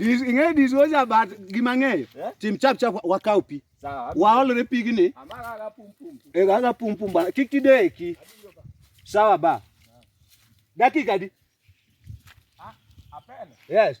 ing'eyo diswoja but gima ng'eyo eh? tim chap chap wakaw pi waolre pigni aga pumpum bana kik tideki sawa ba dakika di ah, yes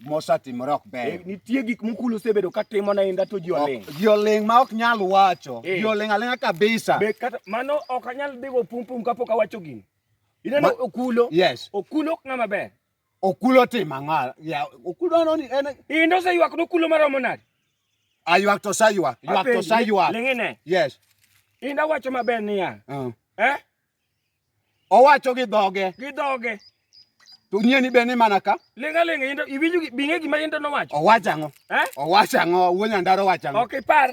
mosatimore ok ber. Eh, nitie gik mukulu osebedo ka timo na inda to ji oling'. Ji oling' ma ok nyal wacho. Eh. Ji oling' aling'a kabisa. Be kata mano ok anyal dhigo pum pum kapok awacho gini. Ineno okulo? Yes. Okulo ok ng'ama ber. Okulo timo ang'o? Ya, okulo ano ni en Inda oseywak nokulo maromo nade? Aywak to saywak. Ywak to saywak. Ling'ine. Yes. Inda wacho maber niya. Uh. Eh? Owacho gi dhoge. Gi dhoge. To nyieni be ni mana ka. Linga linga into iwinjo binge gima into nowacho. Owacho ang'o? Eh? Owacho ang'o? Wuon Nyandaro owacho ang'o? Ok ipar.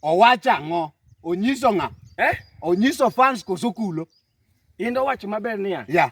Owacho ang'o? Onyiso ng'a? Eh? Onyiso fans koso kulo. Into wacho maber niya. Yeah.